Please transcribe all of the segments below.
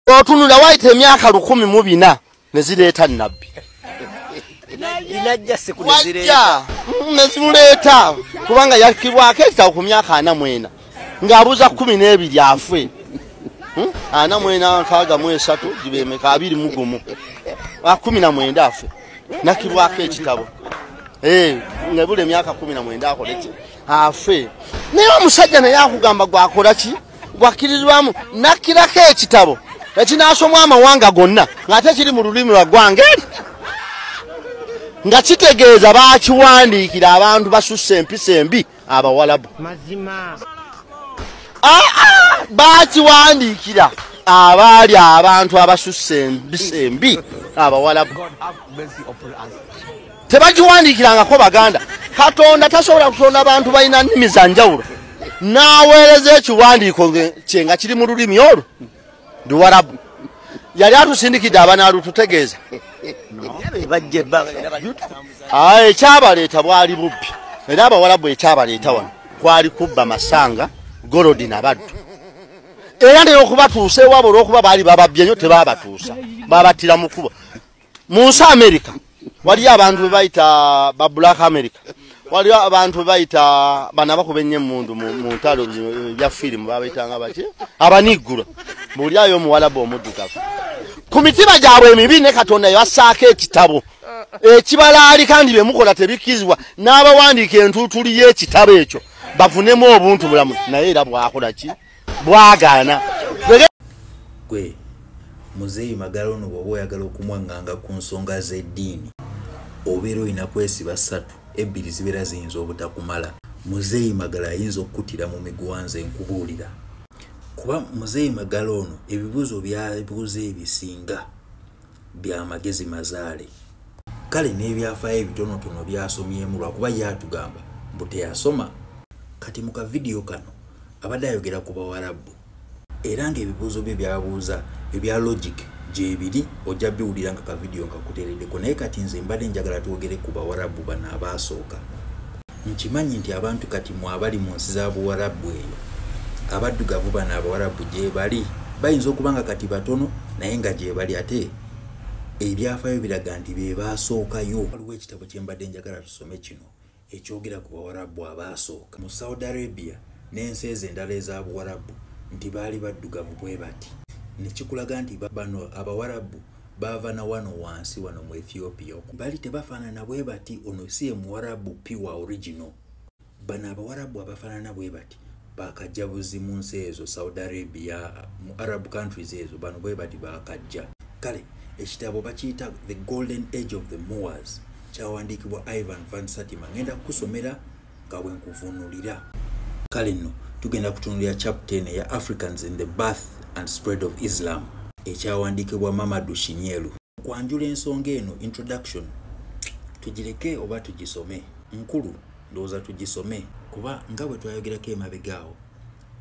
otunula waita emyaka lukumi mu bina ne zireeta nabbi nezimuleeta kubanga yakibwako ekitabo ku myaka ana mwena ng'abuuza kumi n'ebiri afwe hmm? ana mwena nkaaga mu esatu gibemeka abiri mu gumu akumi na mwenda afwe nakibwako ekitabo eh, nebula emyaka kumi na mwenda akoleki afe naye omusajja naye akugamba gwakola ki gwakkiririrwamu nakkirako ekitabo ekinaasomwa amawanga gonna ng'ate kiri mu lulimi lwa ggwanga eri nga kitegeeza bakiwandiikira abantu basusse empisa embi abawalabu ah, ah, bakiwandiikira abaali abantu abasusse empisa embi abawalabu tebagiwandiikirangako baganda katonda tasobola kutonda bantu balina nnimi za njawulo n'aweereza ekiwandiiko kye nga kiri mu lulimi olwo luwarabu yali atusindikidde abanaalututegeeza ah, ekyabaleeta bwali bubbi era abawarabu ekyabaleeta wano kwali kubba masanga golodi nabaddu era naye okubatuusa ewabo olwokuba baali bababbye nyo tebabatuusa babattira mu kubo mu nsi amerika waliyo abantu be bayita ba black america waliyo abantu be bayita bano abakuba ennyo emundu mu ntalo bya firimu babaitanga baki abaniggula muli ayo omuwalabu omuddugavu ku mitima gyabwe emibi ne katonda yasaako ekitabo ekibalaali kandi bye mukola tebikkizibwa n'abawandiika entuutuli y'ekitabo ekyo bavunemu obuntu bulamu naye era bwakola ki bwagaana gwe muzeeyi magala ono bwoba oyagala okumwaŋŋanga ku nsonga z'eddiini obeera olina kwesiba ssatu ebbiri zibeera ziyinza obutakumala muzeeyi magala ayinza okukutira mu migwanza enkubuulira kuba muzeeyi magala ono ebibuuzo byabuuza ebisinga bya magezi mazaale kale n'ebyafaayo ebitonotono byasomyemu lwakuba ye atugamba mbu teyasoma kati mu kavidiyo kano Abadde ayogera ku Bawarabu era ng'ebibuuzo bye byabuuza ebya logic gyebiri ojja biwulira nga ka vidiyo nga kuteereddeko naye kati nze mbadde njagala twogere ku Bawarabu bano abaasooka. Nkimanyi nti abantu kati mu abali mu nsi za Buwarabu eyo abaddugavu bano Abawarabu gyebali bayinza okuba nga kati batono naye nga gyebali ate ebyafaayo biraga nti be baasookayo. Waliwo ekitabo kye mbadde njagala tusome kino. ekyogera ku bawarabu abaasooka mu saudi arabia n'ensi ezo endala eza buwarabu nti baali baddugavu bwe bati nekikulaga nti bano abawarabu baava na wano wansi wano mu ethiopia bali tebafaanana bwe bati ono si ye muwarabu piwa original bano abawarabu abafaanana bwe bati bakajabuzi mu nsi ezo saudi arabia mu arab countries ezo bano bwe bati bakajja kale ekitabo bakiyita the golden age of the moors kyawandiikibwa ivan van satima ngenda kukusomera nga bwenkuvunulira kale nno tugenda kutunulira chapte eno eya africans in the bath and spread of islam ekyawandiikibwa mamadu shinyelu okwanjula ensonga eno introduction tugireke oba tugisome nkulu ndowooza tugisome kuba nga bwe twayogerako emabega awo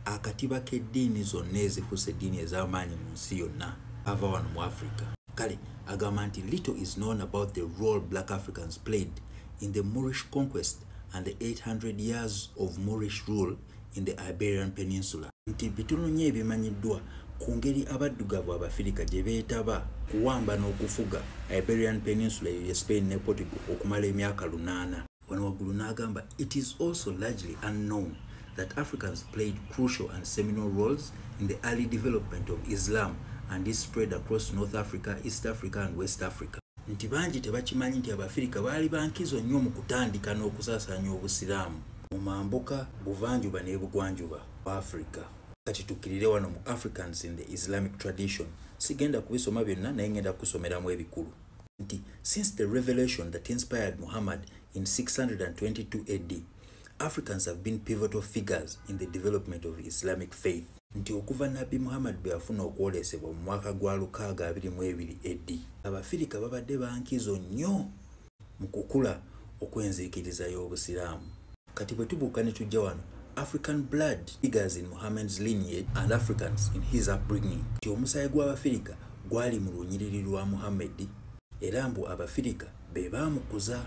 akatiba k'eddiini zonna ezifuusa eddiini ez'amaanyi mu nsi yonna ava wano mu africa kale agamba nti little is known about the role black africans played in the moorish conquest and the 800 years of moorish rule in the iberian peninsula nti bitono nnyo ebimanyiddwa ku ngeri abaddugavu abafirika gye beetaba kuwamba n'okufuga iberian peninsula eyo ye spain ne portugal okumala emyaka lunaana wano waggulu n'agamba it is also largely unknown that africans played crucial and seminal roles in the early development of islam and is spread across north africa east africa and west africa nti bangi tebakimanyi nti abafirika baali bankizo nnyo mu kutandika n'okusaasanya obusiraamu mu mambuka buvanjuba n'ebugwanjuba mu africa kati tukkirire wano mu africans in the islamic tradition sigenda kubisoma byonna naye ngenda kusomeramu ebikulu nti since the revelation that inspired muhammad in 622 ad africans have been pivotal figures in the development of islamic faith nti okuva nabbi muhammad bwe yafuna okwolesebwa mu mwaka gwa 622 ad abafirika babadde bankizo nnyo mu kukula okw'enziikiriza y'obusiraamu kati bwe tubuuka ne tujja wano african blood figures in muhammad's lineage and africans in his upbringing nti omusaayi gw'abafirika gwali mu lunyiriri lwa muhammadi era mbu abafirika be baamukuza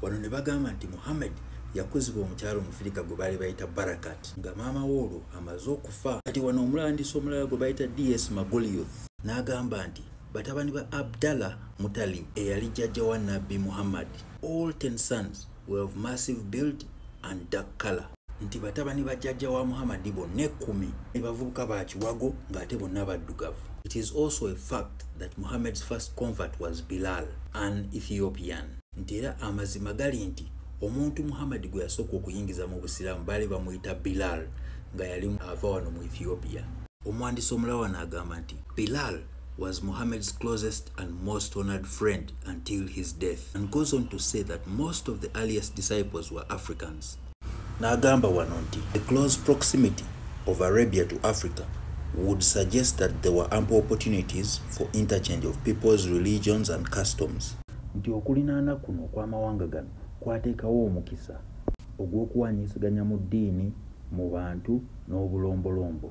wano ne bagamba nti muhammad yakuzibwa omukyalo omufirika gwe baali bayita barakat nga maama we olwo amaze okufa kati wano omulandisa omulala gwe bayita ds magolioth n'agamba nti batabani ba abdallah mutalib eyali jjajja wa nabbi muhammad all ten sons were of massive build and dark color nti batabani ba jajja wa muhammadi bonna ekkumi ne bavubuka ba kiwago ng'ate bonna baddugavu it is also a fact that muhammad's first convert was bilal an ethiopian nti era amazima gali nti omuntu muhammadi gwe yasooka okuyingiza mu busiraamu baali bamuyita bilal nga yali ava wano mu ethiopia omwandisi omulawana agamba nti bilal was Muhammad's closest and most honored friend until his death and goes on to say that most of the earliest disciples were Africans. Nagamba Wanonti, the close proximity of Arabia to Africa would suggest that there were ample opportunities for interchange of people's religions and customs. Nti okulinaana kuno okw'amawanga gano kwateekawo omukisa ogw'okuwaanyisiganya mu ddiini, mu bantu n'obulombolombo.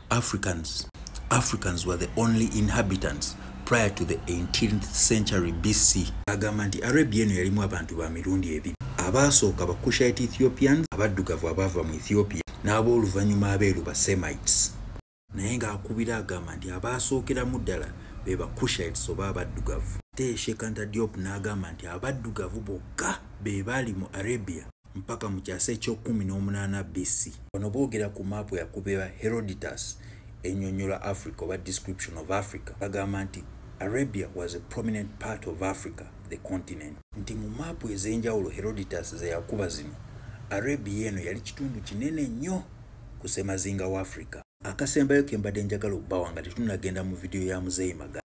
Africans. Africans were the only inhabitants prior to the 18th century BC. Agamba nti Arabia eno yalimu abantu ba mirundi ebiri. Abaasooka ba Cushite Ethiopians, abaddugavu abaava mu Ethiopia, n'ab'oluvannyuma abeeru ba Semites. Naye ng'akubira agamba nti abaasookeramu ddala be ba Cushites oba abaddugavu. Ate Sheikh Anta Diop n'agamba nti abaddugavu bokka be baali mu Arabia. mpaka mu kyasa eky'okkumi n'omunaana BC. Bano boogera ku maapu yakubirwa Herodotus enyonyola Africa oba description of Africa bagamba nti Arabia was a prominent part of Africa, the continent. Nti mu maapu ez'enjawulo Herodotus ze yakuba zino, Arabia eno yali kitundu kinene nnyo ku semazinga wa Africa. Akasembayo ke mbadde njagala okubawa nga tetunnagenda mu vidiyo ya Muzeeyi Magala.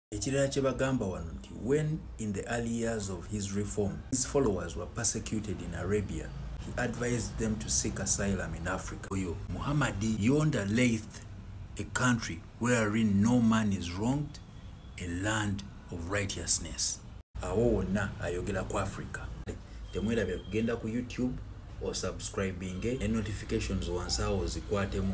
Ekirala kye bagamba wano nti when in the early years of his reform his followers were persecuted in Arabia he advised them to seek asylum in Africa. Oyo Muhammadi yonda Laith a country wherein no man is wronged a land of righteousness. Awo wonna ayogera ku Africa. Temwerabira kugenda ku YouTube or subscribing eh? notifications wansi awo zikwatemu.